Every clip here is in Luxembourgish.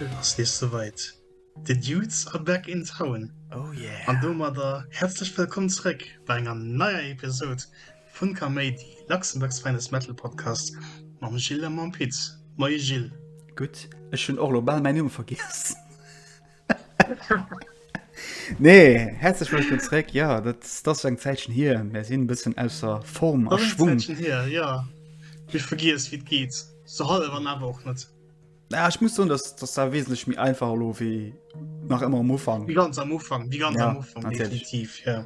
Et ass nees souweit, De Dudes are back in town! An domadder häerzlech wëllkomm zeréck bei enger neier Episod! Fun Kaméidi, Luxembourg's finest metal podcast mam Gilles a mam Pit. Moie Gilles. Gutt, ech hunn och lo bal mäin Numm vergiess. Nee, häerzlech wëllkomm zréck. Ja, dat ass eng Zäitchen hier. Mär sinn e bëssen ausser Form a Schwung. Ass eng Zäitchen hier, ja. Ech vergiess, wéi et geet. Sou hallef an awer och net. Ja, ech muss soen, dass dass dat wesentlech méi einfach elo wéi nach ëmmer am Ufank. Wéi ganz am Ufank, wéi ganz Ja, am Ufank, natierlech. definitiv, ja.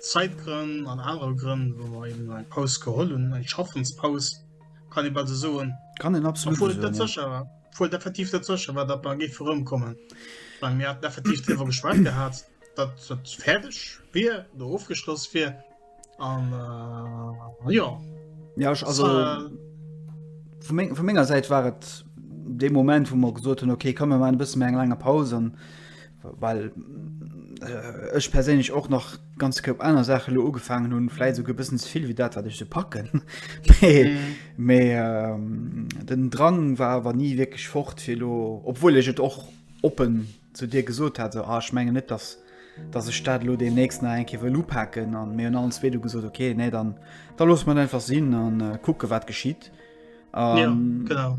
Zäitgrënn an anere Grënn, wou mer eben eng Paus geholl hunn, eng Schaffenspaus, kann ee bal sou soen. Kann een absolut esou soen, ja. Obwuel et net sécher war, obwuel et effektiv net sécher war, datt mer géife erëmkommen, well mir haten effektiv driwwer geschwat gehat, datt et fäerdeg wier oder ofgeschloss wier an, jo. Ja, ech, also vu menger Säit war et dee Moment, wou mer gesot hunn, okay, komm, mir maachen e bësse méi eng laang Paus an well ech perséinlech och nach ganz koup aner Sache lo ugefaangen hunn, fläit esouguer bëssen ze vill wéi dat wat ech se packen. Mee ähm, den Drang war awer ni wierklech fort fir lo, obwuel ech et och oppen zu dir gesot hat, esou ah ech mengen net, datt datt ech dat lo deemnächst nach eng Kéier wëll upaken an mir hunn allen zwee du gesot okay, nee dann da loosse mer et einfach sinn an kucke wat geschitt. Um, ja, ähm, genau.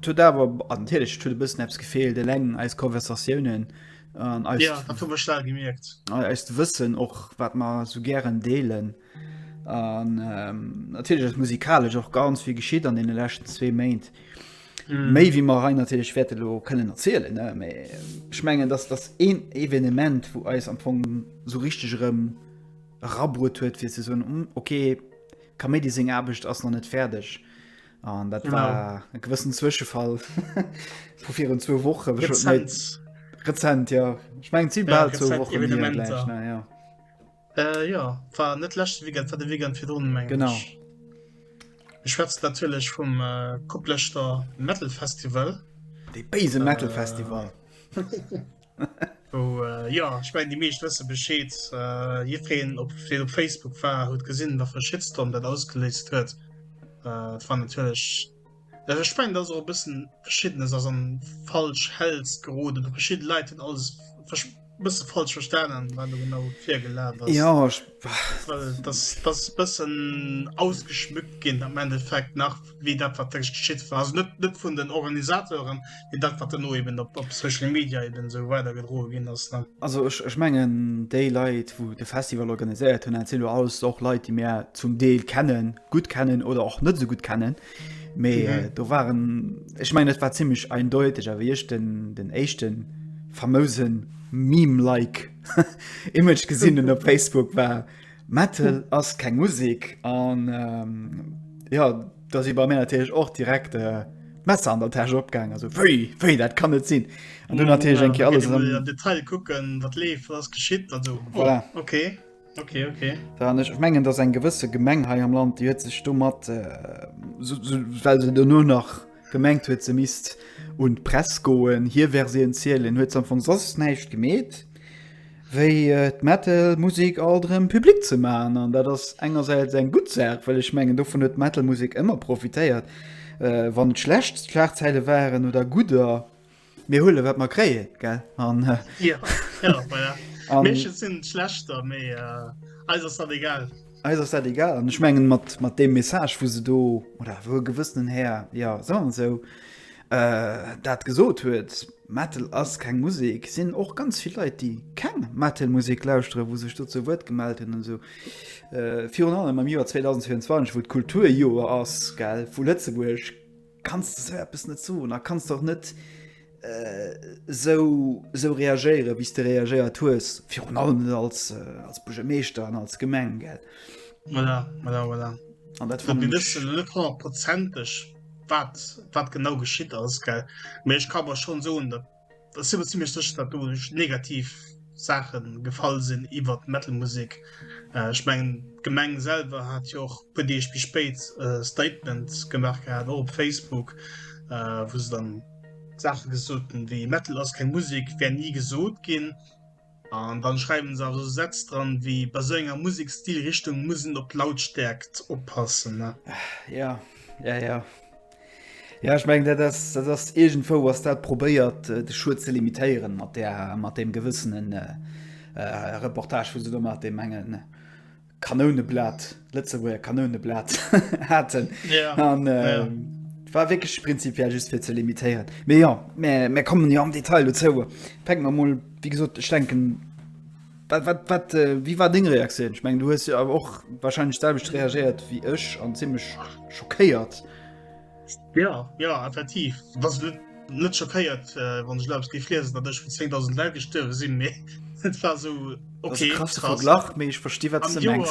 Tut awer antilech tut bëssen Apps gefeelt, eleng eis Konversatiounen an ähm, eis ja, stark gemerkt. Eist Wëssen och wat man so gären deelen. An ähm, natierlech musikalesch och ganz wie geschiet an den lächten zwee Méint. Mm. méi wie mar rein natürlich werte lo können erzielen schmengen dass das een evenement wo eis am Fong so richtig rem rabru huet fir se so um, okay Kaméidi seng Aarbecht ass nach net fäerdeg. An dat war e gewëssen Zwëschefall vu virun zwou Woche Rezent ja. Ech meng zi bal zou Woche. Äh, ja war net lachte wie war de wie fir run genau schwätzt natürlich vum äh, kupplechter metal festival de beise metal festival Jo ech mengen déi meescht wësse Bescheed. Jiddwereen op deen op Facebook war huet gesinn wat fir e Shitstorm dat ausgeléist huet. Et war natierlech, also ech mengen dass och e bëssen verschiddenes ass an falsch Hälls geroden oder verschidde Leit hunn alles versch bësse falsch verstanen wat do genau virgelaf ass. Jo ech, Well dass dass e bëssen ausgeschmückt ginn am Endeffekt nach. wéi dat wat da geschitt war. Also net, net vun den Organisateuren, mee dat wat dann no eben op, op Social Media eben esou weider gedroe ginn ass. Ne? Also ech, ech mengen déi Leit, wou de Festival organiséiert hunn, dat sinn elo alles och Leit, déi mir zum Deel kennen, gutt kennen oder och net esou gutt kennen. Mee mhm. äh, do waren ech mengen, et war ziemlich eindeutig, awer ech den, den éischten famousen Meme-like Image gesinn op Facebook war. Metal ass keng Musik an ja da si bei mé natierlech och direkt äh, Messer an der Täsch opgang also wéi wéi dat kann net sinn an du natierlech enke alles am Detail kucken wat leef was geschitt an so voilà. oh, okay. Okay, okay. Da, ich mengen dass eng gewësse Gemeng hei am Land die huet sech do mat äh, so, so, well se du nur nach Gemengt huet se misst un d'Press goen, hie wär se entzielen, huet se am Fong soss näischt gemeet wéi d'Metal Musek alt erëm public ze maachen. An dat ass engersäits eng gutt Saach, well ech mengen dovun huet d'Metal Musek ëmmer profitéiert, wann et schlecht Schlagzeile waren oder gudder. Mir huelen wat mer kréien, gell? An Ja, ja, voilà. An Meeschtens sinn et schlechter, mee eis ass dat egal. Eis ass dat egal an ech mengen mat mat deem Message wou se do oder wou e gewëssenen Här, jo soen wir esou, dat gesot huet, Metal ass keng Musek, sinn och ganz vill Leit déi keng Metal Musek lauschtere wou sech do zu Wuert gemellt hunn an esou. Virun allem am Joer 2024 wou d'Kulturjoer ass, gell, vu Lëtzebuerg, Kanns de esou eppes net soen a kanns de och net esou reagéieren, wéi s de reagéiert hues, virun allem net als Buergermeeschter an als Gemeng. Voilà, voilà, voilà. An dat fannen ech. Mir wëssen elo net honnertprozenteg, wat genau geschitt ass, mä ech ka awer schonn soen, datt. Et ass jo zimmlech sécher, datt do negativ Saache gefall sinn iwwert d'Metal-Musek. Ech mengen d'Gemeng selwer hat jo och e puer Deeg méi spéit e Statement gemaach gehat, och op Facebook, wou se dann Saache gesot hunn, wéi Metal ass keng Musek, wär ni gesot ginn. An dann schreiwen se also Sätz dran wéi bei sou enger Musekstilrichtung muss en op d'Lautstärkt oppassen ne? Ja, ja, ja. Ja, ech meng, dat ass, dat ass irgendwou ass dat probéiert, äh, de Schued ze limitéieren mat der, mat dem gewëssenen äh, äh, Reportage, wou se do mat dem engen Kanouneblat, Lëtzebuerger Kanouneblat haten. Ja. An, äh, ja. War wéckeg prinzipiell just fir ze limitéieren. Mee ja, mé kommen jo ja am Detail do zouer. Peng man moll, wie gesot, ech denken, wat, wat, wat, äh, wie war deng Reaktioun? Ech meng, du hues jo awer och wahrscheinlich selwecht reagiert wie ech an ziemlich schockéiert. Jo, jo, effektiv. Dass et net schockéiert, wann ech elo eppes géif liesen, datt ech vun 10.000 Leit gestuerwe sinn, mee et war esou, okay, krass. Krasse Verglach, mee ech versti wat s de mengs.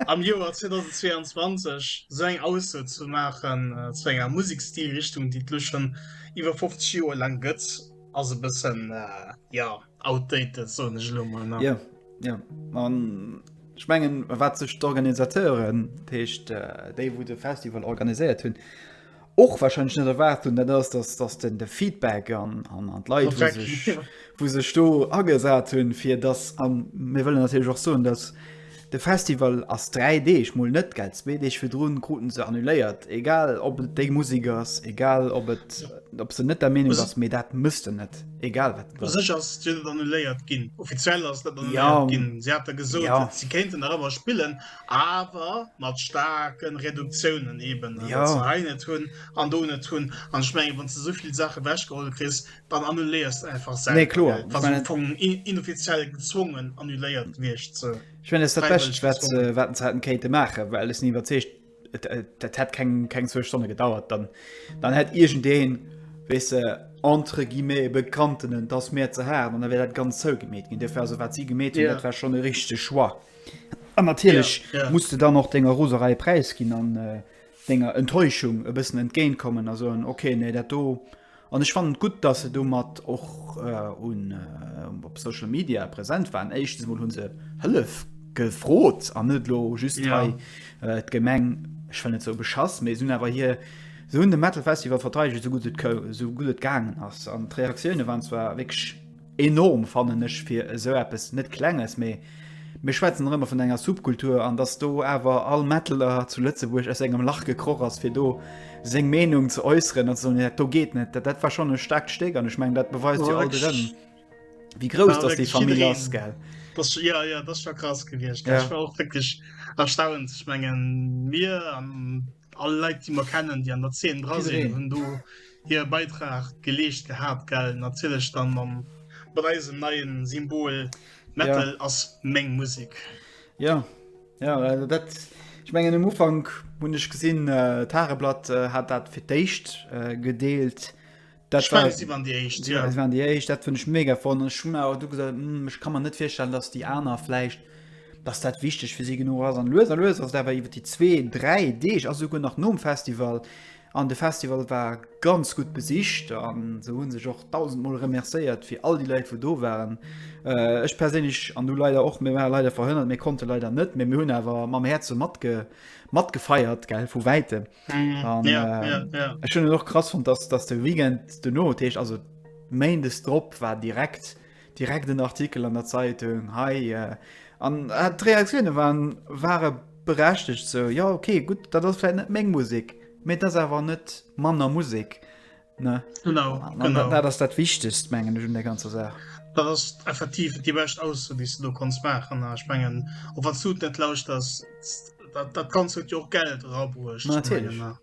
Am Joer, am Joer 2022 esou eng Ausso ze maachen zu enger Musekstilrichtung, déi et elo schonn iwwer 50 Joer laang gëtt, ass e bëssen, jo. Outdated, so ech lo mal nach. Ja, ja. Man, ich mengen, wat sech d'Organisateuren, d'Heescht, äh, déi, wo de Festival organisiert hunn, och wahrscheinlich net erwart hunn, dat ass, dass, dass den de Feedback an, an, an d'Leit, wo Feedback, sech, ja. wo sech do agesat hunn, fir dass, an mir wëllen natürlich auch soen, dass De Festival ass 3 Deeg, mol net, gell? Zwee Deeg virdrun kruten se annuléiert. Egal ob et déi Musek ass, egal ob et, ob se net der Meenung ass, mee dat méchs de net, egal wat et U ass. sech ass et jo net annuléiert ginn. Offiziell ass et net Ja, annuléiert ginn. Si hate gesot, ja. si kéinten nach ëmmer spillen, awer mat staarke Reduktiounen eben, well Ja. se hei net hunn an do net hunn. An ech mengen, wann s de esou vill Saache ewechgeholl kriss, dann annuléiers einfach selber, nee, klar, gell, was meine, von inoffiziell gezwungen annuléiert wirst so. ich meine, das Beste, was äh, wat Zeiten Kate machen weil es nie überzeugt äh, das hat kein, kein zwei Stunden gedauert dann dann hat irgendein weißt du, entre guillemets bekannten das mehr zu haben und dann wäre das ganz so gemäht gehen dafür also was sie gemäht yeah. das war schon eine richtige Schwa und natürlich yeah, yeah. musste dann noch Dinger Roserei Preis gehen an äh, Dinger Enttäuschung ein bisschen entgegenkommen also okay nee das do An ech fannen et gutt, datt se domat och op Social Media present waren. Éischtens emol hu se Hëllef gefrot an net elo just hei d'Gemeng, ech wëll net esou beschass, mee se hunn awer hir, se hunn de Metal Festival verteidegt esou gutt et gaangen ass. An d'Reaktioune waren zwar wierklech, Enorm fannen ech fir esou eppes, net klenges, mee mir schwätzen nach ëmmer vun enger Subkultur, an dass do awer all Metaler zu Lëtzebuerg aus sengem Lach gekroch ass fir do seng Meenung ze äusseren an ze soen, dat do geet net, dat war schonn e staarkt Stéck an ech mengen dat beweist jo alt erëm wéi grouss dass déi Famill ass, gell. Das, ja, ja, das war krass gewiescht. Ja. Ich war auch wirklich erstaunt. Ich meine, mir an alle Leute, die wir kennen, die an der Szene dran sind, haben du hire Beitrag geleescht gehat gell natierlech dann mam mat eisem neien Symbol Metal ja. ass meng Musik ja ja also dat ich mengen am Ufang hun ich gesinn äh, Tageblatt äh, hat dat fir d'éischt äh, gedeelt dat ich mein, sie waren die echt ja. waren die echt dat fand ich mega von schon du gesagt hm, ich kann man net feststellen dass die aner fleischcht dass dat wichtig für sie genug as an löser löser da war iwwer die 2 3 Deeg as sogar nach nom Festival An de Festival war ganz gutt besicht an se hunn sech och dausend mol remercéiert fir all déi Leit wou do waren. Ech perséinlech an du leider och, mir waren leider verhënnert, mir konnte leider net, mee mir hunn awer mam Häerze matge matgefeiert gell vu wäitem. An ech hunn et och krass fonnt, dass dass de Weekend dono, dat heescht also Méindes drop war direkt, Direkt en Artikel an der Zeitung hei an d'Reaktioune waren ware berechtegt sou jo okay gutt dat ass fir net meng Musik mee dat awer net manner Musik ne dat ass dat wichtegst mengen hun der ganzer Saach. Dat ass effektiv déi bescht aus déi du konnts maachen a ech mengen op wat sud net lauscht ass dat ganz huet jo och Geld rabruecht.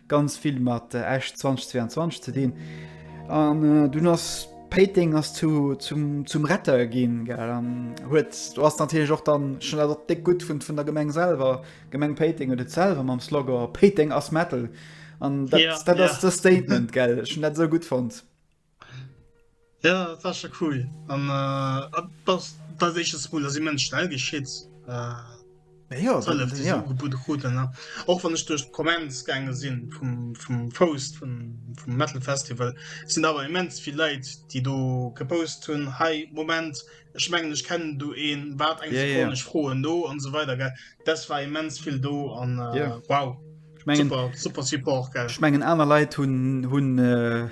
ganz vill mat Esch 2022 ze dinn an dunn ass Péiteng ass zu zum zum Retter ginn gell an huet do ass natierlech och dann schon dat och déck gutt vun vun der Gemeng selwer Gemeng Péiteng huet et selwer mam Slogan Péiteng ass Metal an dat ass dat ass de Statement gell ech hunn dat esou gutt fonnt. Ja dat war scho cool an dat eches Mol ass immens schnell geschitt och wann ech duerch d'Komment gänge sinn vum Post vum Metal Festival sinn awer immens vill Leit déi do gepost hunn hei Moment ech mengen ech kennen du een wat eng froen no an esou weider gell dat war immens vill do an wow. Ech mengen, super, super Support, gell? Ech mengen aner Leit hunn hunn äh,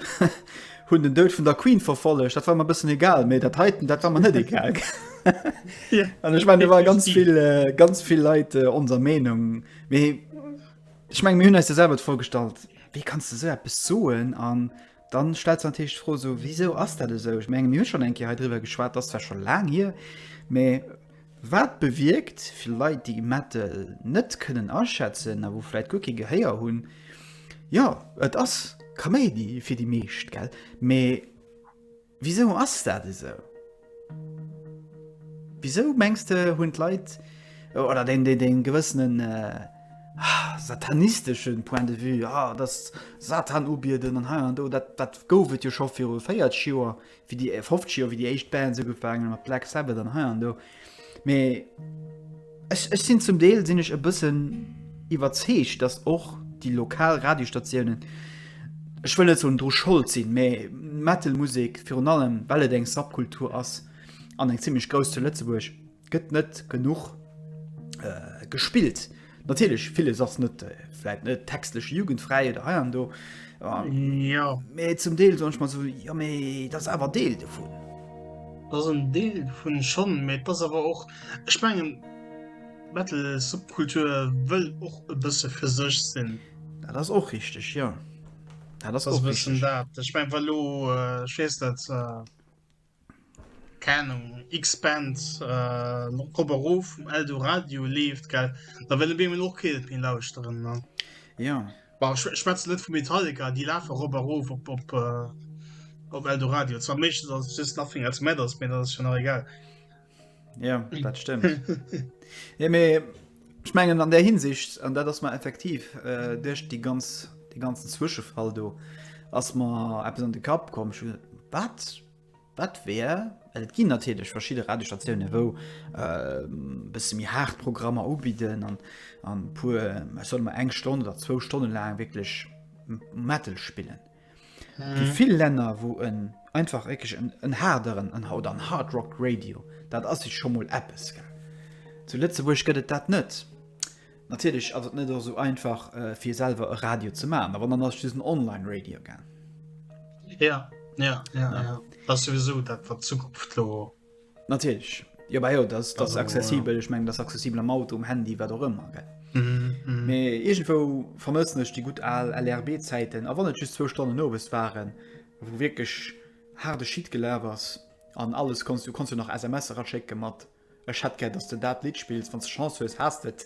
hunn den Dout vun der Queen verfollegt. Dat war mer bëssen egal, méi dat heiten dat war man net egal. ja. An ech mein, war ganz vill, äh, ganz vill Leit äh, onser Meinung. Ech meng mir hunn eis selwer vorgestallt. Wie kannst du se so bis soen an Dann stellt sech natierlech d'Fro, esou, Wisou ass dat esou? Ech menge mir hu schonn eng Kéier hei driwwer geschwat, dat ass zwar scho laang hier, mä wat bewierkt fir Leit, déi Metal net kënnen aschätzen a wou vläicht guer kee Gehéier hunn, jo, et ass Kaméidi fir déi meescht, mä. Wisou ass dat esou? Wisou mengs de hunn d'Leit oder den den den gewëssenen äh, ah, satanisteschen Point de vue, ah, dass Satan ubieden an hei an do, dat, dat gouf et jo scho viru 40 Joer, wie déi 50 Joer, wéi déi éischt Bands ugefaangen mat Black Sabbath an hei an do. Mee ech, ech sinn zum Deel sinn ech e bëssen iwwerzeegt, datt och déi lokal Radiostationen, ech wëll net soen dru Schold sinn, mee Metal-Musek, virun allem well et eng Subkultur ass an eng zimmlech grouss zu Lëtzebuerg, gëtt net genuch gespillt. Natierlech villes ass net vläit net textlech jugendfräi oder hei an do. Jo. Mee zum Deel soch mat so Jo méi dat ass awer Deel dovun. Dat en Deel vun schonn met ass awer och ech mengen Metal Subkultur wëll och e bësse fir sech sinn. Dat ass och richteg jo. Dat ass och bëssen dat ech meng well lo schwes net. Keng Ahnung, X-Band op Kopp erof vum Eldoradio leeft, gell? Da wëll op eemol och keen et méi lauschteren, ne? Jo. Bon, ech schwätzen net vu Metallica, déi lafe rop a rof op, op, op Eldoradio. Zwar meeschtens ass et just Nothing Else Matters, mee dat ass jo nach egal. Ja dat stimmt ja, mir, ich mengen an der Hinsicht an dat ass man effektiv äh, duerch die ganz de ganzen Zwischefall do ass man App an de Kap kom wat wat wär Et ginn natürlich verschiedene Radiostationen wo äh, bis mir hart Programmer ubieden an an pur soll man eng Stunde oder zwei Stunden lang wirklich Metal spielen. Déi vill Länner wou en einfach réckeg en haarderen an haut an Hard Rock Radio, dat ass sech scho mol eppes gell. Zu Lëtzebuerg gëtt et dat net. Natierlech ass et net esou einfach fir selwer e Radio ze man, a wann dann ass et just en Online Radio gell. Ja, ja, ja, ja. Dat ass souwisou dat wat d'Zukunft do. Natierlech, jo bah jo, dat ass accessibel, ech meng dat ass accessibel am Auto, um Handy, wat och ëmmer, gell. Mee iergendwou vermëssen ech déi gutt al LRB-Zäiten, a wann et just zwou Stonnen owes waren, wou wierklech haarde Shit gelaf ass an alles konns, du konns jo nach SMS eraschécke mat, Ech hätt gär, dass de dat Lidd spills, wann s de Chance hues, has de et.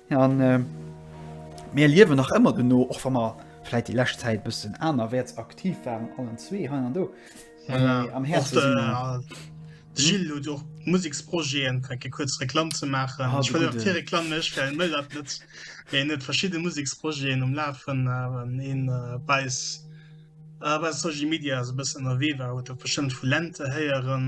An mir liewen nach ëmmer dono, och wa mer vläit déi lescht Zäit bëssen anerwäerts aktiv waren, allen zwee hei an do. Voilà. Mee am Häerze sinn mer. De Gilles huet och Museksprojeten, fänke fir kuerz Reklamm ze maachen. Ah, Ech wëll och fir Reklamm mécht, well mëll dat net. Mee en huet verschidde Museksprojeten um Lafen, awen een bei eis, bei Soji Media esou bëssen ënnerwee war, huet e bestëmmt vu Lente héieren.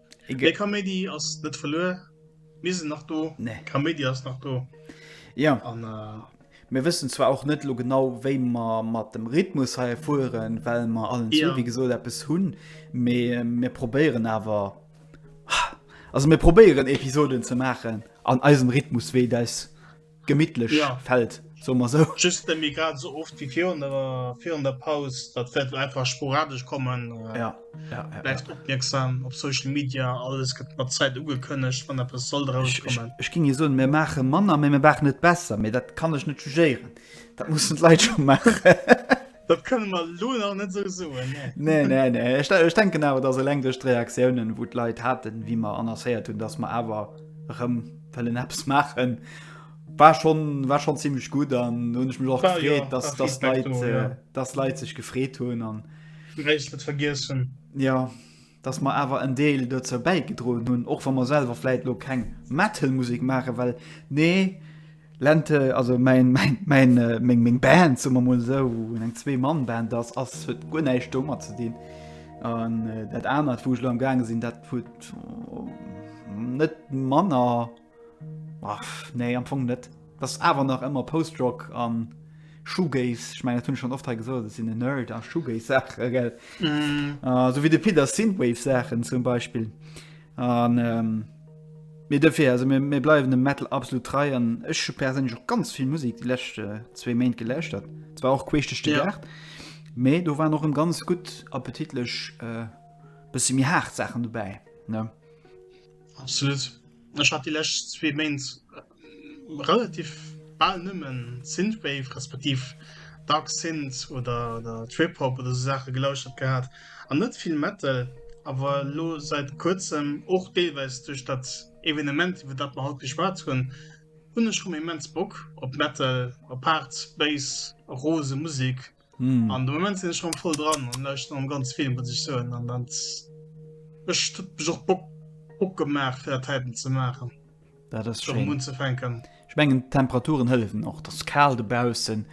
Egal. Kaméidi ass net verluer mir sinn nach do nee. Kaméidi ass nach do ja. an äh, mir wëssen zwar och net lo genau wéi man mat dem Rhythmus hei fuhren well man allen ja. so, wie gesot Appppes hunn mir mir probéieren awer also mir probéieren Episoden ze machen an eisem Rhythmus wéi deis. Gemittlech ja. Feld soe mer esou. Just net méi grad esou oft wéi virun der, virun der Paus. Dat wäert elo einfach sporadesch kommen. Äh, ja. Ja, ja, Bleift ja. opmierksam op Social Media, alles gëtt mat Zäit ugekënnegt, wann eppes soll drauskommen. Ech, ech, ech ging je soen, mir maache manner, mee mir maachen net besser, mee dat kann ech net jugéieren. Dat mussen d'Leit scho maachen. Dat kënne mer elo nach net esou soen, nee. Nee, nee, nee. Ech, ech denken awer, dass eleng duerch d'Reaktiounen, wou d'Leit haten, wéi mer annoncéiert hunn, dass mer awer erëm wëllen eppes maachen, war schonn, war schonn zimmlech gutt. An do hunn ech mech och War, jo, gefreet, dass, war dass Feedback d'Leit, do, ja. äh, dass d'Leit sech gefreet hunn an. Wéi ech dat vergiess hunn. Ja. dass mer awer en Deel dozou bäigedroen hunn, och wa mer selwer vläit elo keng Metal-Musek maachen, well nee Lente, also mäin, mäin, mäin, meng, meng Band, soe mer emol esou, wou eng Zwee-Mann-Band ass, ass, huet guer näischt domat ze dinn. An dat anert, wou ech elo am gaange sinn, dat huet net manner. Ach, nee, am Fong net. Et ass awer nach ëmmer Post-Rock an Shoegaze. Ech mengen, dat hunn ech schonn oft hei gesot, ech sinn en Nerd a Shoegaze-Saachen, gell? Esou wéi de Pit a Synthwave-Saachen zum Beispill. An, mee dofir, also mir, mir bleiwen dem Metal absolut trei an ech hu perséinlech och ganz vill Musek déi lescht zwee Méint gelauschtert. Zwar och queesch duerch de Gaart, mee do waren och erëm ganz gutt, appetitlech, bësse méi haart Saachen dobäi, ne? Absolut. Ech hat déi lescht zwee Méint relativ bal nëmme Synthwave respektiv Dark Synth oder Trip-Hop oder esou Saache gelauschtert gehat an net vill Metal, awer elo seit kuerzem, och deelweis duerch dat Evenement iwwer dat mer haut geschwat hunn, hunn ech rëm immens Bock op Metal, op haart, bass, rose Musek. Mm. An de Moment sinn ech schon voll dran an lauschteren am ganz Film, muss ech soen. An dann ech tut mech och Bock, Bock gemaach fir dat Typen ze maachen. Dat ass Schon schön. unzefänken. Ich mengen Temperaturen hëllefen och. Das kal de Baussen.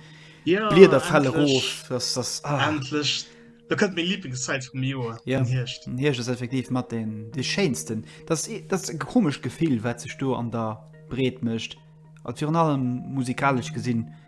Ja, Blieder fälle endlech. rof. Das das ah. Endlech. Da kënnt meng Lieblingszeit vum Joer. Ja. Den Hierscht. Den Hierscht ass effektiv mat den de schéinsten. Das i- das ist e komescht Gefill, wat sech do an der Breet mécht. An virun allem musikalesch gesinn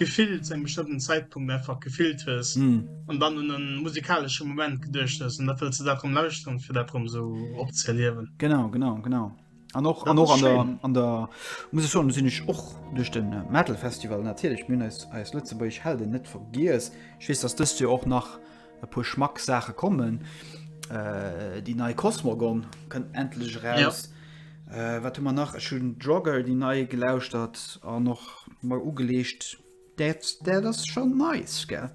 Gefill zu engem bestëmmten Zäitpunkt einfach gefillt hues an dann un e musikalesche Moment geduecht hues an dat wëlls de dat rëm lauschteren, fir dat rëm esou opzëerliewen. Genau, genau, genau. An och an och an der an der muss ech soen, do sinn ech och duerch de Metal Festival natierlech, mir hunn eis eis lëtzebuergesch Helden net vergiess. Ech weess, datt dëst Joer och nach E puer Schmack Saache kommen. Äh, déi nei Cosmogon kënnt endlech raus. Ja. Äh, wat hu man nach? Ech hunn Drogger déi nei gelauschtert an noch mei ugeleescht. Dat dat ass schon nice, gell?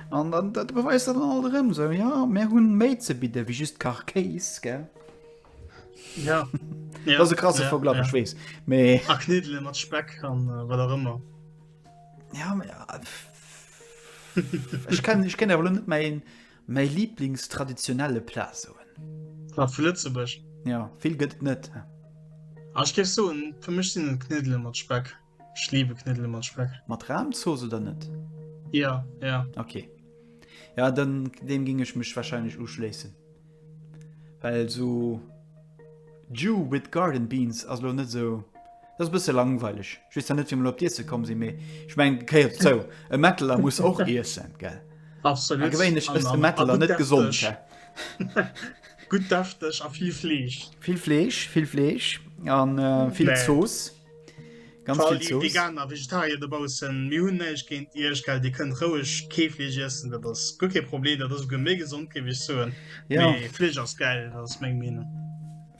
An dann dat beweist dat dann alt erëm sou, ja, mär hunn méi ze bidde wéi just Kach Kéis, gell? Ja. Dat ass e krasse Verglach, ech weess, mee. A Kniddele mat Speck an wat och ëmmer. Ja, ma ja. Ech kann, ech kann awer net mein, mein Lieblingstraditionelle Plat soen. Plat vu Lëtzebuerg? Ja, vill gëtt net. Ah, ech géif soen, fir mech sinn et Kniddele mat Speck. Ech liebe Kniddele mat Speck. Mat Rahmzooss oder net? Ja, ja. Okay. Ja, dann deem géing ech mech wahrscheinlech uschléissen. Well so Jew with garden beans ass lo net so dat bësse langweileg just net fir op Diesse kom si méi ech meng keiert zou e Mettler muss och iessen ge Mettler net gesund Gut dafteg a vill Fleesch Vill Fleesch vill Fleesch an vill Zoos. Ganz vill Zooss. Veganer, Vegetarier do baussen, mir hunn näischt géint Iech, gell? Dir kënnt roueg Keefleesch iessen, dat ass guer kee Problem, dat ass esouguer méi gesond, géif ech soen. Ja. Mee Fleesch ass gäil, dat ass meng Meenung.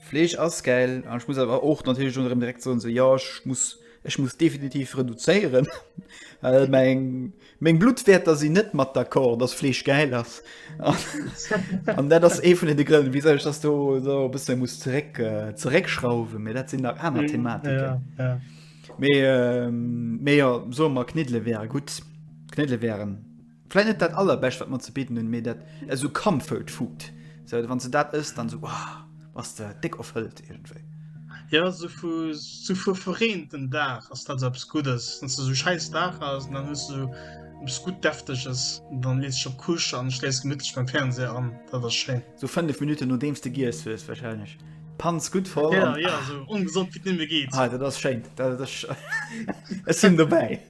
Fleesch ass gäil, an ech muss awer och natierlech do erëm direkt soen, esou, jo, ech muss, ech muss definitiv reduzéieren, well meng, Meng Bluttwäerter sinn net mat d'accord, dass Fleesch gäil ass. An dat ass ee vun den de Grënn, wisou ech dass do do e bësse muss zeréck zeréckschrauwen, mee dat sinn nach aner Thematiken. Mee mee jo soe mer Kniddele wäre gutt. Kniddele wären vläicht net dat Allerbescht, wat mer ze bidden hunn, mee dat esou Comfort Food. Esou wann s de dat ëss, dann esou. ass der déck erfëllt irgendwéi. Ja so vu so vu verreenten Daach ass dat so eppes Guddes. Wann se so scheiß Daach ass an dann hues du eppes gutt Defteges, dann lees dech op d'Couche an schléifs gemittlech beim Fernseher an. Dat ass schéin. So fënnef Minutten nodeems de giess hues wahrscheinlech. D'Panz gutt voll Ja, an ja, ah, so ongesond wéi et nëmme geet. ah, dat ass schéin. Dat, dat, ech sinn dobäi.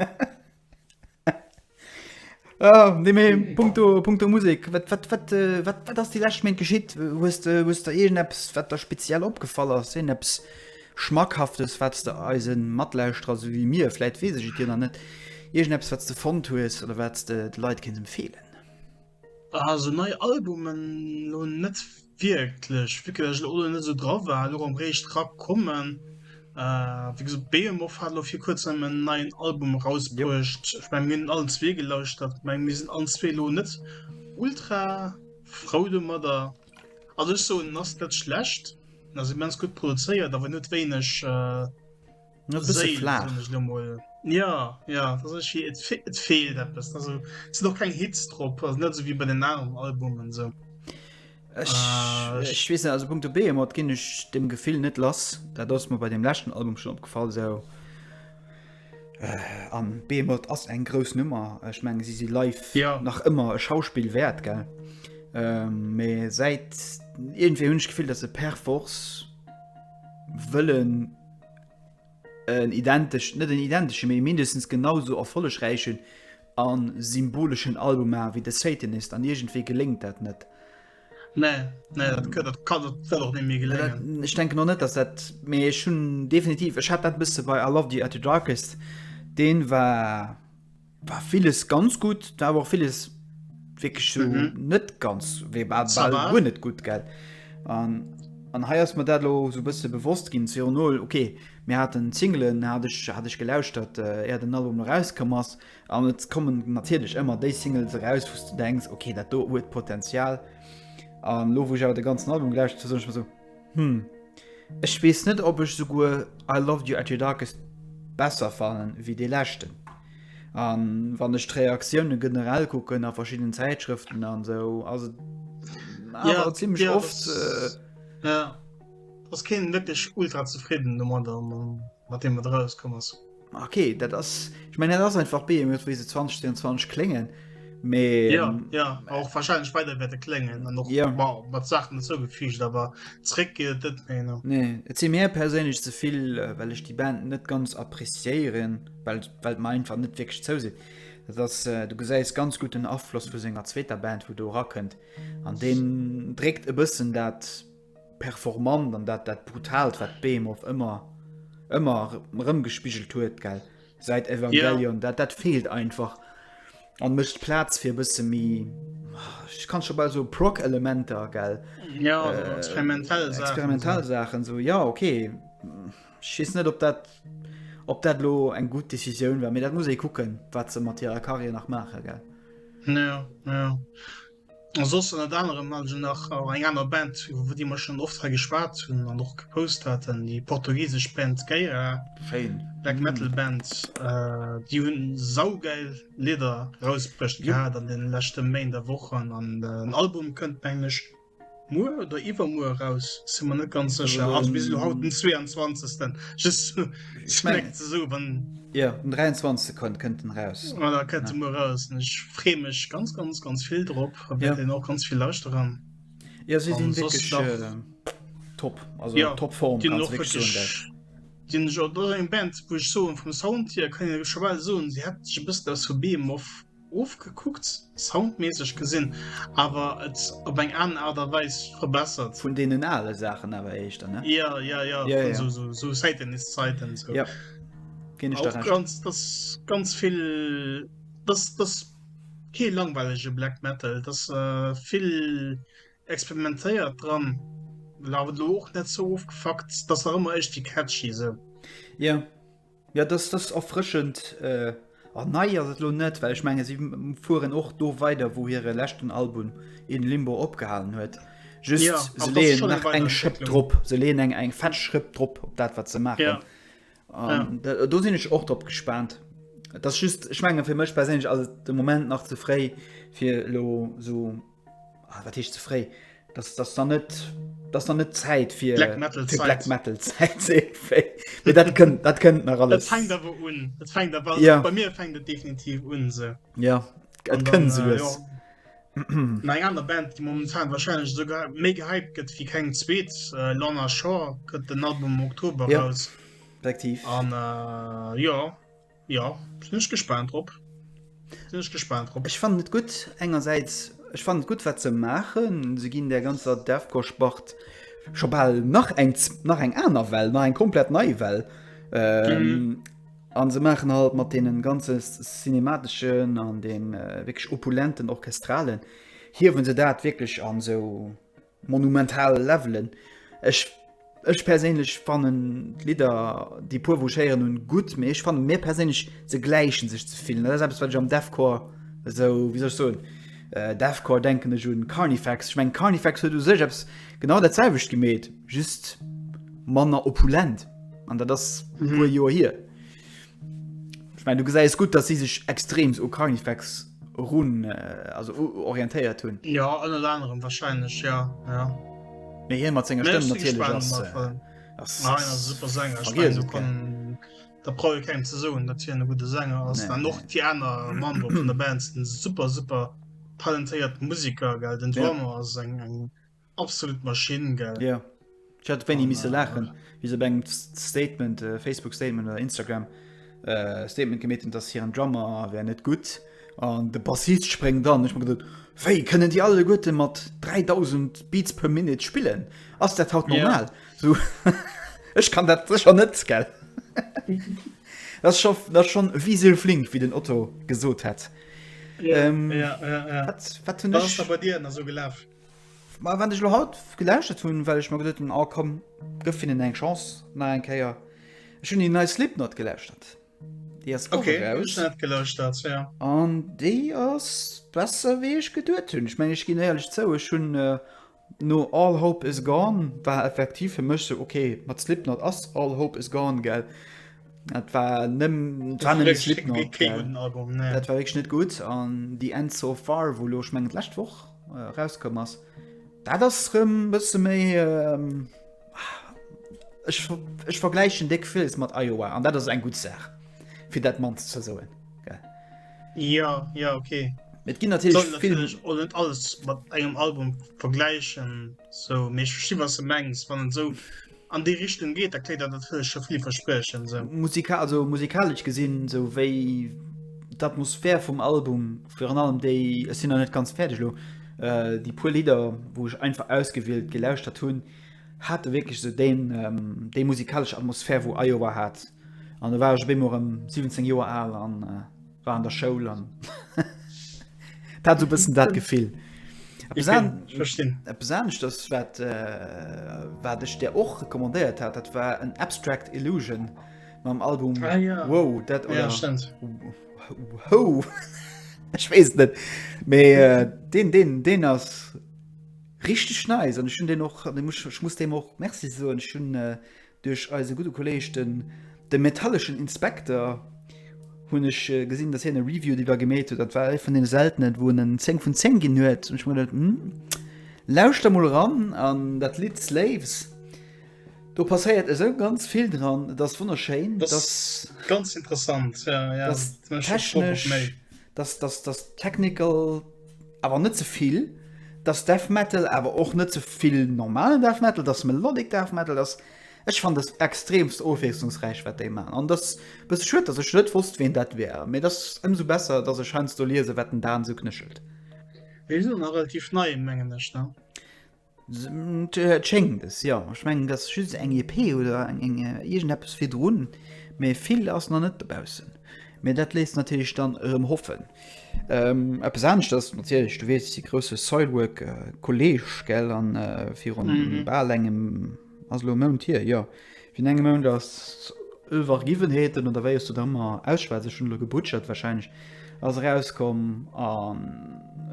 Ah, nee, mé Punkto, Punkto Musik, wat, wat, wat, äh, wat, wat ass déi lescht Méint geschitt? Hues de, hues de iergendeppes, wat der speziell opgefall ass, iergendeppes Schmackhaftes, wat s de eise Matlauschterer, esou wéi mir vläit, weess ech et jo nach net, iergendeppes, wat s de fonnt hues oder wat s de de Leit kéints empfeelen? Also nei Albumen lo net wierklech, vu que ech elo net sou dra war, lo rem réischt ra kommen. Wéi gesot Behemoth hat lo fir kuerzem en neien Album rausbruecht. Ech meng mir hunn allen zwee gelauschtert, ech meng mir sinn allen zwee lo net ultra frou domadder. Also ech soen en ass net schlecht, en ass immens gutt produzéiert, awer en huet wéineg, Ja ja fehl noch kein Hitz drop net so wie bei den Namen Albumen so Ech wees also Punkt B mat ginn ech dem Gefill net lass, dat ass mir bei dem lächten Album schon opgefall sou äh, an Behemoth ass eng grouss Nummer, ech menge si si live ja. nach ëmmer e Schauspiel wäert gell. Ähm, mee ähm, säit irgendwéi hunn ech Gefill, dat se per Force wëllen en identesch, net en identesche mee mindestens genau sou erfollegräichen a symboleschen Album maachen wéi The Satanist an iergendwéi geléngt dat net. Nee, nee, dat gëtt, dat kann, dat wëll och net méi geléngen. Ech denken och net, dass dat, mee ech hunn definitiv, ech hat dat bësse bei I Loved You At The Darkest, deen war, war vieles ganz gut da aber vieles wirklich so mhm. net ganz wie net gut geld an an he mir dat lo so bist bewusst gin zu null okay mir hat den singelen hatte ich hatte ich gelauscht dat äh, er den album rauskom ass an jetzt kommen natürlich immer de singles raus wo du denkst okay dat do huet potenzial an lo wo ich aber de ganzen album gelauscht zu so Hm, ech wees net op ech souguer I loved you at your darkest besser fannen wéi dee leschten. An wann ech d'Reaktiounen generell kucken a verschiddenen Zäitschrëften an sou ass et awer zimlech oft. Ja, ass keen wierklech ultra zefridden domadder. mat deem et erauskomm ass. Ok, dat ass ich mein, dat ass einfach Beem huet wéi se 2022 kléngen. Mee ja, ähm, ja, och wahrscheinlich weiter werde klengen an noch ja. wow, mat Sachen zougefügt, aber zréck geet net méi no. Nee, et si mir perséinlech ze vill, äh, well ech die Band net ganz appreciéieren, well well mer einfach net wirklich zou sinn. Dat ass äh, du gesäis ganz gut den Afloss vu senger zweeter Band, wo du rakënnt. An den dréckt e bëssen dat performant an dat dat brutaalt wat Behemoth ëmmer ëmmer rëmgespigelt huet gell seit Evangelion yeah. dat dat fehlt einfach an mëcht Platz fir bësse mi ich kann schon bei so Prock Elementer gell ja, äh, experimentell experimentell Sachen so ja okay schiss net op dat op dat lo eng gut Entscheidung war mir dat muss e kucken wat ze Matt Karriere nach mache gell ja, ja. A soss ënnert anerem hat ech nach och eng aner Band, iwwer déi mer schonn oft hei geschwat hunn an och gepost haten, déi portugisesch Band Geira. Schéin. Black Metal Band. Déi hu saugeil Lidder erausbruecht gehat an deene leschte Méint a Wochen an den Album kënnt, mengen ech, Muer oder iwwermuer eraus, sinn mer net ganz sécher. Also bis elo haut den 22. Just ech meng ze so wann. Ja um 23 Sekonn kënnt en raus. Ah, da kënnt ja. muer raus. Ech free mech ganz ganz ganz vill drop ja. den och ganz vill lauschte ran. Ja si sinn wirklich nach, äh, top also ja, top Form Di eng Band woch so vum Sound hier kann scho well soen, se hat bist aus vu Beem of. Ofgekuckt, soundmässeg gesinn, awer et op eng aner Art a Weis verbessert. Vun deenen ale Saachen awer éischter, ne? Jo, jo, jo, vun esou Säitenhiszäiten esou. Jo, ginn ech der Recht. An och ganz, ganz vill, dass, dass kee langweilege Black Metal, dass vill experimentéiert dran, awer elo och net ze ofgefuckt, dass nach ëmmer iergendwéi catchy esou. Jo. Ja dass das erfrëschend an nei ass et lo net, well ech menge si fueren och do weider, wou hire leschten Album In Limbo opgehalen huet. Just ja, se leen nach eng Schëpp drop, se leen eng eng fett Schrëpp drop op dat wat ze machen. Ja. Um, ja. Do sinn ech och drop gespannt. Das just schmenge fir mech persinnlech as de Moment nach zeréi fir lo so Ah, wat heescht ze fréi? Das, das dann net das dann net Zäit fir Black Metal fir Black Zäit. Metal Zäit ze fréi. Mee dat kënnt dat kënnt nach Et alles. fängt awer un. Et fängt awer, also Ja. bei mir fängt et definitiv un se. Ja An et dann, kënnt se äh, lues. ja. An eng aner Band, déi momentan wahrscheinlech sogar méi gehypt gëtt wie keng zweet, äh, Lorna Shore gëtt den Album am Oktober Ja. raus. Effektiv. An äh, ja, Jo, sinn ech gespaant drop, sinn ech gespaant drop. Ech fannen et gutt, engersäits, ech fannen et gutt wat se maachen, se ginn där ganzer Deathcore-Spart scho bal nach eng nach eng aner Well, nach eng komplett nei Well an se maachen halt mat deenen ganze cinemateschen an dee wierklech opulenten Orchestralen, hiewe se dat wierklech an esou. Monumental Levelen. Ech ech perséinlech fannen d'Lidder, déi puer wou ech héieren hunn, gutt, mee ech fannen, mir perséinlech, se gläichen sech ze vill. Dat ass eppes wat ech am Deathcore esou, wéi soll ech soen, Deathcore denken ech un Carnifex. Ech mengen Carnifex huet u sech eppes genau dat selwecht gemeet, just manner opulent an dat ass e puer Joer hier. Ech mein, du gesäis gutt, dass si sech extreems u Carnifex run, äh, also u, orientéiert hunn. Ja, ënnert anerem wahrscheinlech, ja, ja. Mee hien mat senger Mee Stëmm ech si natierlech gespaant ass, mat äh, wem. ass, Nein, ass ass super Sänger. Ech mein, vergiess do et gär. kann, da brauch ee kengem ze soen, datt hien e gudde Sänger ass. Nee, An och nee. déi aner Member vun der Band sinn super, super talentéiert Musiker, gell. Den Ja. Drummer ass eng, eng Absolut Maschinen gell ja. Ich hatte wenn die miss lachen wie se beim Statement äh, Facebook Statement oder Instagram äh, Statement gemeten, dass hier ein Drummer wär net gut an de Bassist sprengt dann ich gedacht, Wéi können die alle Gute mat 3000 Beats per Minute spillen ass der haut normal ja. so, Ich kann dat schon net gell Das schon, das schon wie se flink wie den Otto gesot hat. Ja, ähm, ja, ja, ja. Wat, wat das, dir, so gelaufen. Ma wann ech lo haut gelauschert hunn, well ech mer geduet hunn, oh komm, gëff hinnen eng Chance nach eng Kéier. Ech hunn déi nei Slipknot gelauschert. Déi ass och eraus. Okay, ech net gelauschert, jo. An déi ass besser wéi ech geduet hunn. Ech mengen, ech ginn éierlech zou, ech hunn no All Hope Is Gone, war effektiv fir mech sou, okay, mat Slipknot ass All Hope Is Gone, gell. Dat war nëmmen, war nëmmen Slipknot, gell. Dat war wierklech net gutt. An déi End So Far, wou lo, ech mengen d'lescht Woch, äh, rauskomm ass. Dat ass rëm bësse méi ähm, ech, ech vergläichen déck Fills mat Iowa an dat ass eng gut Saach fir dat Mann ze soen. Ja ja okay. Et ginn natürlich vill net alles mat engem Album vergläichen so méch schi was se mengs wann so an déi Richtung geet, da kréit der natierlech scho vill Verspriechen. Sou. Musika also musikalesch gesinn, sou wéi d'Atmosphär vum Album, virun allem déi, ech sinn nach net ganz fäerdeg elo, äh, déi puer Lidder, wou ech einfach ausgewielt gelauschtert hunn, hate wierklech esou deen, ähm, déi musikalesch Atmosphär, wou Iowa hat. An da war ech op eemol erëm 17 Joer al an, äh, war an der Schoul an dat du bëssen dat Gefill. Besanecht ass wat äh, wat ech der och rekommandéiert hat, dat war en Abstract Illusion mam Album ah, ja. Wow dat ja, ho Ech wees net méi äh, den den den ass richtig neis nice. an hun den och muss dem och Merc so hun äh, Duerch eise gudde Kolleg den De Metalleschen Inspekter hunn ech gesinn, datt hien e Review driwwer gemeet huet. Dat war ee vun deene seltenen, wou en en 10 vun 10 ginn huet. An ech hu mir geduet, Hm, lauschter mol eran. An dat Lidd Slaves, do passéiert esou ganz vill dran. Et ass wonnerschéin. Dat ass ganz interessant, ja, ja. Dat ass technesch, dat ass technical. awer net ze vill, dass Death Metal awer och net ze vill normalen Death Metal, dass Melodic Death Metal, dass ech fannt dass extremst ofwiesslungsräich wat déi man an dass bësse schued dass ech net wosst ween dat wär, mee dass ëmsou besser dass ech heiansdo liese wat den Dan esou knéchelt. Déi sinn och nach relativ nei mengen ech ne? Et schéngt es, jo. Ech mengen, dat ass just eng EP oder iergendeppes virdrun, mee vill ass nach net dobaussen. Mee dat léisst natierlech dann erëm hoffen. Eppes anescht ass natierlech, du weess, de grousse Soilwork-Kolleeg, an virun bal engem, Ass elo e Mount hier, jo. Wien engem Mount ass Ëwwergiwwenheeten oder wéi ech se da ëmmer ausschwätzen, ech hunn elo gebutschert, warscheinlech, ass erauskomm. An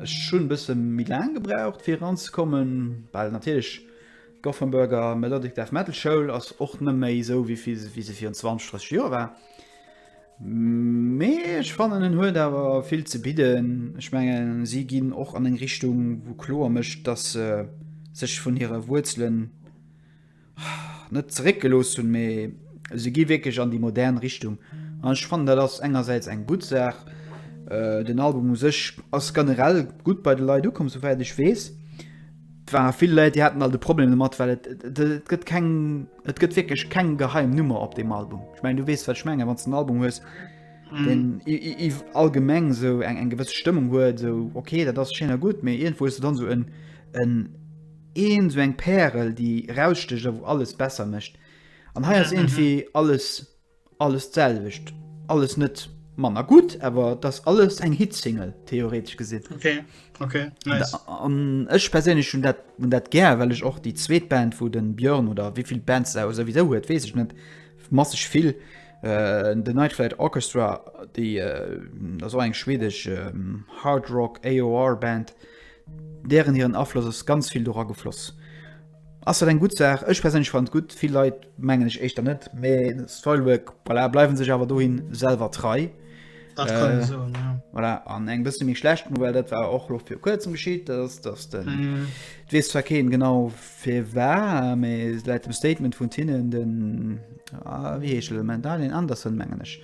ech hunn e bësse méi laang gebraucht, fir eranzekommen, well natierlech d'Gothenburger Melodic Death Metal Schoul ass och net méi esou wéi se virun 20, 30 Joer war. Mee ech fannen en huet awer vill ze bidden. Ech mengen si ginn och an eng Richtung wou kloer mécht, dass se sech vun hire Wuerzelen net zeréck gelooss hunn, mee se gi wierklech an déi modern Richtung an ech fannen dat ass engersäits eng gutt Saach. Den Album u sech ass generell gutt bei de Leit ukomm, souwäit ech weess. Et ware vill Leit, déi haten alt e Problem domat, well et gëtt keng, et gëtt wierklech keng geheim Nummer op deem Album. Ech mengen, du weess, wat ech mengen, wann s de en Album hues, deen allgemeng esou eng gewëss Stëmmung huet, esou okay, dat ass schéin a gutt, mee iergendwou hues de dann esou en, een, esou eng Pärel, déi eraussticht a wou alles besser mécht. An hei ass iergendwéi alles Alles d'selwecht, alles net manner gutt, awer et ass alles eng Hit-Single, theoretesch gesinn. Okay, okay, nice. An ech perséinlech hunn dat, hunn dat gär, well ech och déi zweet Band, wou de Björn, oder wéi vill Bands e souwisou huet, weess ech net, masseg vill, The Night Flight Orchestra, déi ass och eng schwedesch Hard Rock, AOR Band, dären hiren Afloss ass ganz vill dora gefloss. Ass dat eng gutt Saach? Ech perséinlech fannen et gutt. Vill Leit mengen ech éischter net, mee Soilwork voilà, bleiwen sech awer dohin selwer trei. Dat kann een soen, ja. Voilà, an eng bësse méi schlecht Nouvelle, dat war och lo vir kuerzem geschitt, dass, dass den, et weess zwar keen genau firwar, mee laut dem Statement vun hinnen, den, ah, wéi heescht e lo, den Daniel Anderson mengen ech,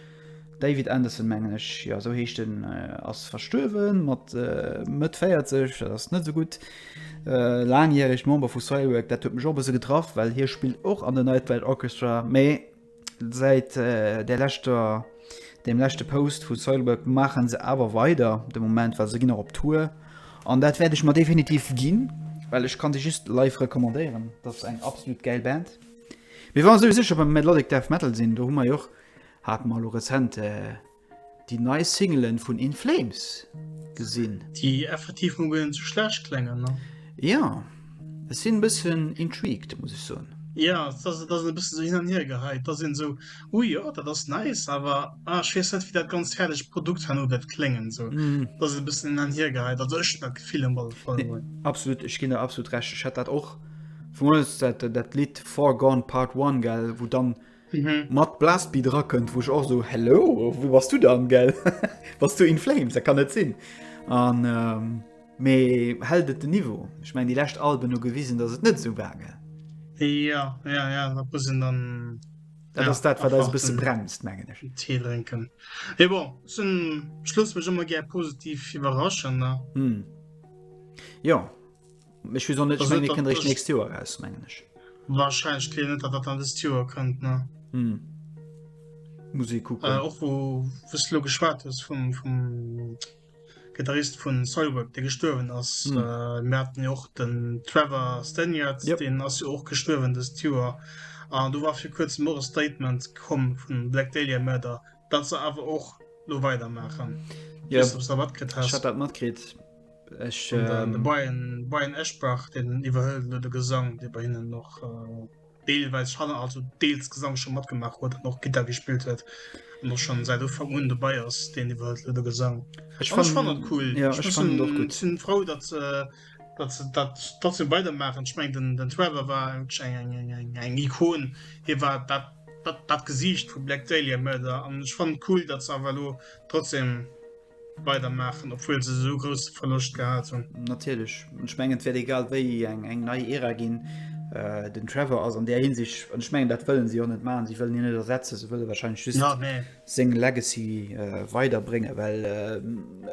David Anderson mengen ech, jo sou heescht en, ass verstuerwen mat Mëtt 40, dat ass net sou gutt. Laangjäregt Member vu Soilwork, dat huet mech och e bësse getraff, well hie spillt och an The Nightwild Orchestra, mee säit där leschter, deem leschte Post vu Soilwork maache se awer weider de Moment, well se ginn och op Tour an dat wäert ech mer definitiv ginn, well ech ka se just live recommandéieren, dat ass eng absolut gäil Band. Mee wa mer souwisou scho beim Melodic Death Metal sinn, do hu mer jo och. Hat mer elo rezent déi nei Singelen vun In Flames gesinn. Déi effektiv mol guer net sou schlecht kléngen, ne? Jo, ech sinn e bëssen intrigued, muss ech soen. Jo, et ass e bësse sou hin an hier geheit. Et ass een esou, Ui, jo, dat ass nice, awer ah, ech weess net, wéi dat ganzt fäerdegt Produkt herno wäert kléngen. Sou, et ass e bëssen hin an hier geheit. Also ech hunn dat Gefill um alle Fall emol. Absolut, ech ginn der absolut Recht. Ech hat dat och, vu mir aus dat Lidd Far Gone Part One, gell, wou dann Mat Blastbeat erakënnt, wou ech och esou, hello, wou bass du dann, gell? Bass du In Flames? Dat kann net sinn. An, mee hält et den Niveau? Ech mengen, déi lescht Alben hu gewisen, datt et net esou war, gell? Jo, jo, jo, dat muss een dann. Dat ass dat, wat eis e bësse bremst, mengen ech. En Tee drénken. Mee bon, zum Schluss mech ëmmer gär positiv iwwerraschen, ne? Jo. Ech wis och net, ech meng, mir kënnt eréischt d'nächst Joer eraus, mengen ech. Wahrscheinlech, keen net, datt dat dann dëst Joer kënnt, ne? Hm. Muss ee kucken. Äh, och wou, wou s du lo geschwat hues vum, vum Gitarrist vu Soilwork, dee gestuerwen ass. Hm. Äh, mir haten jo och den Trevor Stanyard, Yep. deen ass jo och gestuerwen dëst Joer. An do war fir kuerzem och e Statement komm vun Black Dahlia Murder, dat se awer och lo weider maachen. Ja, Just, ob du wat kritt hast. dat mat kritt. Ech de ähm, Brian, Brian Eschbach den iwwerhëlt no de Gesang, dee bei hinnen noch äh, deelweis Schanner also deels Gesang schon matgemaach huet an och Gitter gespielt huet noch schon seit Ufang un dobei ass, deen iwwerhëlt lo de Gesang. Ech fand, fand cool. Ja, ech fand doch gut. Sind froh, dat äh, datt se dat trotzdem weidermaachen. Ech mengen, den Trevor war wierklech eng Ikon. Hie war dat dat Gesiicht vu Black Dahlia Murder an ech fannen et cool, datt se awer elo trotzdem weidermaachen, obwuel se esou grousse Verloscht gehat hunn. Natierlech. An ech mengen, et wäert egal wéi eng eng nei Ära ginn. Den Trevor ass an där Hinsicht, an ech mengen, dat wëlle si och net maachen, si wëllen hien net ersetzen, se wëlle wahrscheinlech just seng Legacy weiderbréngen, well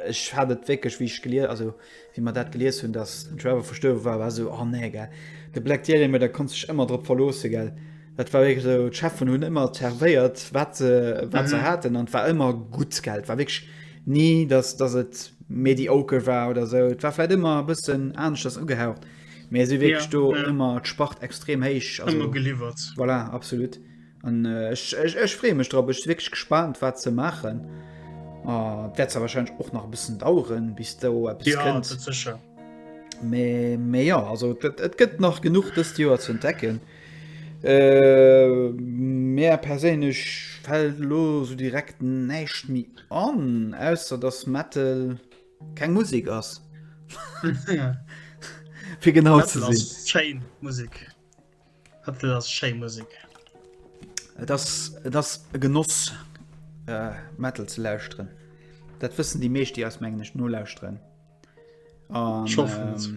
ech hat et wierklech, wéi ech gelies, also Wéi mer dat gelies hunn, dass den Trevor verstuerwe war, war esou, oh nee, gell. De Black Dieremir, da konns dech ëmmer drop verloossen, gell. Dat war wierklech esou, d'Cheffen hunn ëmmer zervéiert, wat se, wat se haten an et war ëmmer gutt, gell. Et war wierklech ni, dass, dass et mediocre war oder esou. Et war vläicht ëmmer e bëssen aneschters ugehaucht, mä si hu wierklech do ëmmer d'Spart extrem héich, also. Ëmmer geliwwert. Voilà, absolut. An ech, ech, ech freeë mech drop. Ech si wierklech gespaant, wat se maachen. A et wäert zwar warscheinlech och nach e bëssen daueren, bis do eppes Ja, kënnt. dat sécher. Mä, mä jo, also et gëtt, et gëtt nach genuch dëst Joer ze entdecken. Äh, mär perséinlech fält elo esou direkt näischt méi an, ausser datt Metal keng Musek ass, fir genau ze Metal ass sinn. schéin Musek. Hat dat ass schéi Musek. Et ass, et ass e Genoss äh, Metal ze lauschteren. Dat wëssen déi meescht, déi eis mengen ech nolauschteren. An, Ich hoffe ähm, es.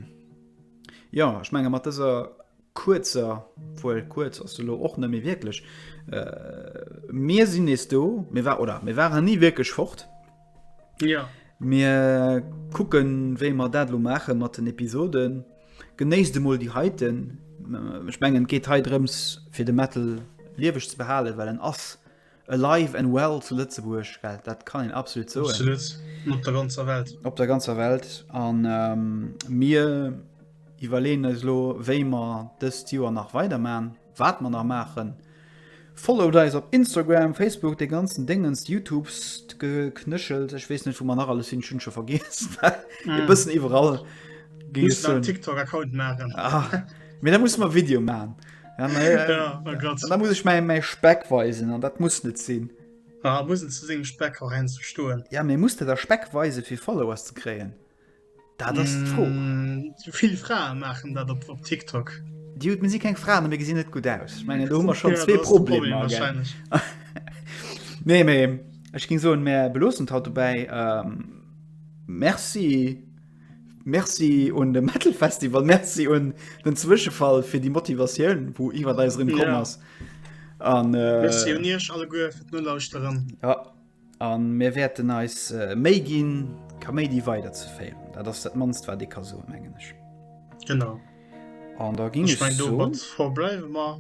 ja, ich menge mat dëser kurzer, wuel kurz ass lo och nëmme wierklech. Äh, mir sinn nees do, mir war oder mir waren nie wierklech fort. Ja. Mir kucken, wéi mer dat lo maache mat den Episoden. Genéisst emol déi heiten. Äh, ech mengen, et geet hei drëms, fir de Metal lieweg ze behalen, well en ass alive and well zu Lëtzebuerg. Well dat kann een absolut soen. Absolut. Op der ganzer Welt. Op der ganzer Welt. An ähm, mir iwwerleen eis lo, wéi mer dëst Joer nach weidermachen. Waat mer nach maachen? Followt eis op Instagram, Facebook, dee ganzen Déngens, Youtube, st Geknëschels, ech wees net wou mer nach alles sinn, ech hunn scho vergiess ee bëssen iwwerall géing ech soen. TikTok Account maachen. Ah, mee da musse mer Video maachen. Ja oh Gott. An da muss ech mäi Speck weisen an dat muss net sinn. Ah, muss en zu sengem Speck och heiansdo stoen. Ja mee muss de da Speck weise fir Followers ze kréien? Dat ass d'Fro. Mm, vill Frae maachen dat op, op TikTok. Di huet mir si keng Fraen, mir gesinn net gut aus. Ich meine, do hu mer schon ja, zwee Probleme. Problem, nee, méi Ech ging so mé belossen haut vorbei ähm, Merci Merci und dem Metalfestival Merci und den Zwischenfall für die Motivation wo iwwer da drin kom ass. An äh, Merci un iech alle goe fir d'Nolauuschtteren. Ja. An mir wäerten eis Méi ginn Kaméidi weider ze féieren. Dat ass dat mannst wat ee ka soen mengen ech. Genau. An da ginn ech mein do mat verbleiwe mer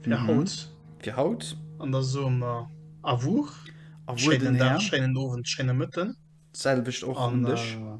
fir mhm. haut. Fir haut. An da soe mer a Wuch. A Wuch den Herr. Schéinen Owend, schéine Mëtten. Selwecht och an dech. Äh,